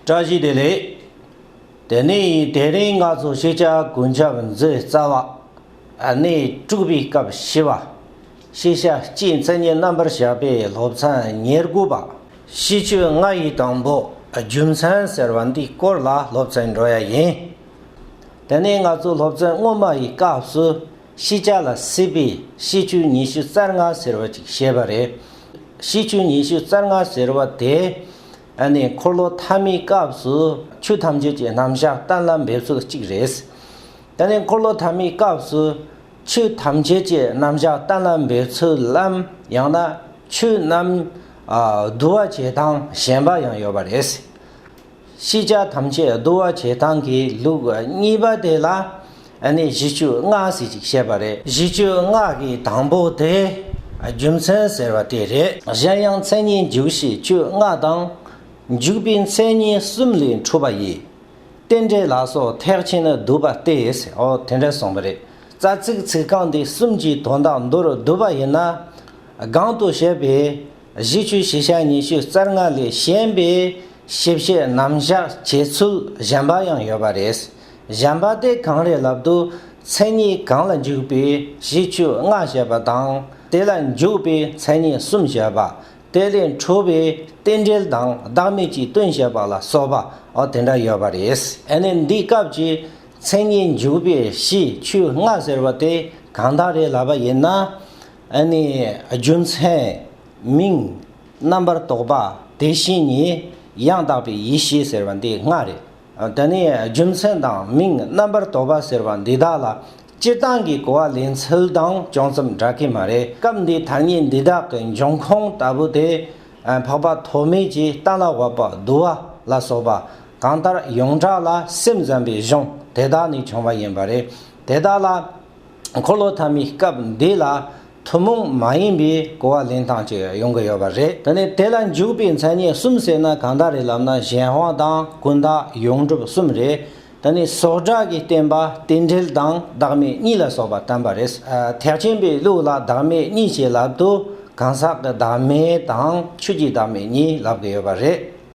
བཀྲ་ཤིས་བདེ་ལེགས། དེ་ནས་དེ་རིང་ང་ཚོ་ཤེས་བྱ་གོན་ཆབ་མཛོད་རྩ་བ་ནས་དཀྲུགས་པའི་སྐབས་བྱེད་པ། ཤེས་བྱ་སྤྱིའི་མཚན་ཉིད་རྣམ་པར་བཞག་པའི་སློབ་ཚན་ཉེར་དགུ་པ། ཤིས་བརྗོད་ལྔ་ཡི་དང་པོ་རྒྱུ་མཚན་ཟེར་བ་འདིའི་སྐོར་ལ་སློབ་ཚན་འགྲོ་ཡ་ཡིན། དེ་ནས་ང་ཚོ་སློབ་ཚན་སྔོན་མ་ཡི་སྐབས་སུ་ཤེས་བྱ་ལ་སྲིད་པའི་ཤེས་བྱུས་ཉི་ཤུ་རྩ་ལྔ་ཟེར་བ་ཅིག་བཤད་པ་རེད། ཤེས་བྱུས་ཉི་ཤུ་རྩ་ལྔ་ཟེར་བ་དེ་ཨ་ནི་འཁོར་ལོ་ཐ་མའི་སྐབས་སུ་ཆོས་ཐམས་ཅད་ཀྱི་རྣམ་གཞག་གཏན་ལ་འབེབས་ཚུལ་གཅིག་རེད། ད་ནི་འཁོར་ལོ་ཐ་མའི་སྐབས་སུ་ཆོས་ཐམས་ཅད་ཀྱི་རྣམ་གཞག་གཏན་ལ་འབེབས་ཚུལ་ལམ་ཡང་ན་ཆོས་རྣམས་བསྡུ་བ་བྱེད་སྟངས་གཞན་པ་ཡང་ཡོད་པ་རེད། ཤེས་བྱ་ཐམས་ཅད་བསྡུ་བ་བྱེད་སྟངས་ཀྱི་ལུགས་གཉིས་པ་དེ་ལ་ཨ་ནི་བཞི་བཅུ་ལྔ་ཟེར་ཅིག་བཤད་པ་རེད། བཞི་བཅུ་ལྔ་གི་དང་པོ་དེ་རྒྱུ་མཚན་ཟེར་བ་དེ་རེད། གཞན་ཡང་མཚན་ཉིད་འཇུག་བཞི་བཅུ་ལྔ་དང། འཇུག་པའི་མཚན་ཉིད་གསུམ་ལས་འཁྲུལ་པ་ཡི། རྟེན་འབྲེལ་ལ་སོགས་ཐེག་ཆེན་བསྡུ་བ་སྟེ། ཨོ་དེ་འདྲ་གསུངས་པ་རེད། རྩ་ཚིག་ཚིག་རྐང་འདི་གསུམ་གྱི་དོན་དག་མདོར་བསྡུ་བ་ཡིན་ན། སྒང་དུ་བཤད་པའི་བཞི་བཅུ་བཞི་ཞག་ཉི་ཤུ་རྩ་ལྔ་ལས་གཞན་པའི་ཞིབ་བཤད་རྣམ་བཞག་བྱེད་ཚུལ་གཞན་པ་ཡང་ཡོད་པ་རེད། གཞན་པ་སྟེ་གང་རེ་ལབ་ཏུ་མཚན་ཉིད་གང་ལ་འཇུག་པའི་གཞི་བཅུ་ལྔ་བཤད་པ་དང་དེ་ལ་འཇུག་པའི་མཚན་ཉིད་གསུམ་བཤད་པ། དེ་ལས་འཕྲོས་པའི་རྟེན་འབྲེལ་དང་བདག་མེད་ཀྱི་དོན་བཤད་པ་ལ་སོགས་པ་དེ་འདྲ་ཡོད་པ་རེད། དེ་ནས་འདིའི་སྐབས་ཀྱི་མཚན་ཉིད་འཇུག་པའི་གཞི་བཅུ་ལྔ་ཟེར་བ་དེ་གང་དག་རེ་ལབ་པ་ཡིན་ན། རྒྱུ་མཚན། མིང། རྣམ་པར་རྟོག་པ། དེ་བཞིན་ཉིད། ཡང་དག་པའི་ཡེ་ཤེས་ཟེར་བ་འདི་ལྔ་རེད། དེ་ནས་རྒྱུ་མཚན་དང་མིང་རྣམ་པར་དོགས་པ་ཟེར་བ་འདི་དག་ལ་སྤྱིར་བཏང་གི་གོ་བ་ལེན་ཚུལ་དང་ཅུང་ཙམ་འདྲ་གི་མ་རེད། སྐབས་འདིའི་ཐ་སྙད་འདི་དག་གི་འབྱུང་ཁུངས་ལྟ་བུ་དེ། འཕགས་པ་ཐོགས་མེད་ཀྱིས་རྟ་ལ་བབ་པ་བསྡུ་བ་ལ་སོགས་པ་གང་ལྟར་ཡོངས་གྲགས་ལ་སེམས་ཙམ་པའི་གཞུང་དེ་དག་ནས་བྱུང་བ་ཡིན་པ་རེད། དེ་དག་ལ། འཁོར་ལོ་ཐ་མའི་སྐབས་འདི་ལ་ཐུན་མོང་མ་ཡིན་པའི་གོ་བ་ལེན་སྟངས་ཅིག་ཡོང་གི་ཡོད་པ་རེད། ད་ནི་དེ་ལ་འཇུག་པའི་མཚན་ཉིད་གསུམ་ཟེར་ན་གང་དག་རེད་ལབ་ན་གཞན་དབང་དང་ཀུན་བཏགས་ཡོངས་གྲུབ་གསུམ་རེད། ད་ནི་སོགས་སྒྲ་གིས་བསྟན་པ་རྟེན་འབྲེལ་དང་བདག་མེད་གཉིས་ལ་སོགས་པ་བསྟན་པ་རེད། ཐེག་ཆེན་པའི་ལུགས་ལ་བདག་མེད་གཉིས་ཞེས་ལབ་དུས་གང་ཟག་གི་བདག་མེད་དང་ཆོས་ཀྱི་བདག་མེད་གཉིས་ལབ་གི་ཡོད་པ་རེད།